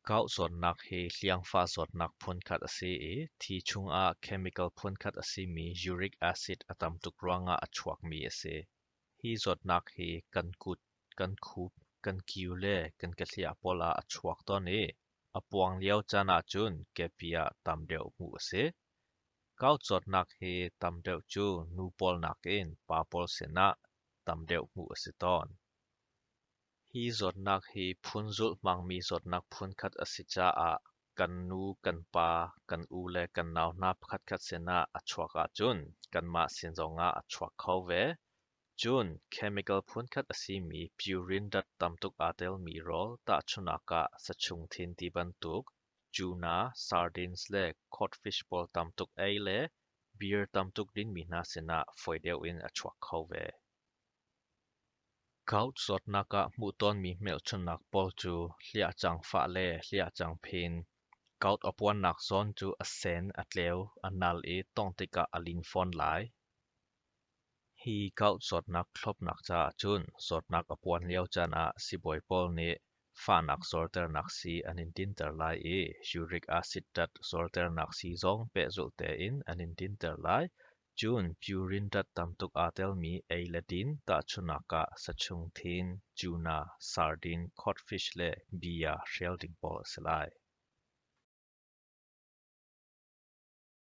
Gauh zawtnak hi hliangfa zawtnak phunkhat a si i thi chungah chemical phunkhat a simi uric acid a tam tuk ruangah a chuakmi a si. Hi zawtnak hi kan kut, kan khup, kan kio le kan kehliah pawl ah a chuak tawn i a puang lio caan ahcun kepi ah tam deuh hmuh a si. Kaucawtnak hi tam deuh cu nu pawl nakin pa pawl sinah tam deuh hmuh a si tawn. Hi zawtnak hi phun zulhmangmi zawtnak phunkhat a si caah kan nu, kan pa, kan u le kan nau hna pakhatkhat sinah a chuak ahcun kanmah sin zongah a chuak kho ve. Cun chemical phunkhat a simi purin dat tam tuk aa telmi rawl tahchunak ah sachung thin ti bantuk Cu hna sardines le codfish pawl tam tuk ei le beer tam tuk dinmi hna sinah fawi deuh in a chuak kho ve. Gout zawtnak ah hmuh tawnmi hmelchunhnak pawl cu hliahcang fah le hliahcang phin, gout a puannak zawn cu a sen, a tleu, a nal i tawngh tikah a lin fawn lai. Hi kauh zawtnak thlawpnak caah cun zawtnak a puan lio caan ah sibawi pawl nih fahnak zawrternak sii an in dinter lai i uric acid tat zawrternak sii zong pehzulh tein an in dinter lai. Cun purin tat tamtuk aa telmi ei le din tahchunak ah sachung thin, cuna, sardin, codfish le bia hrial ding pawl a si lai.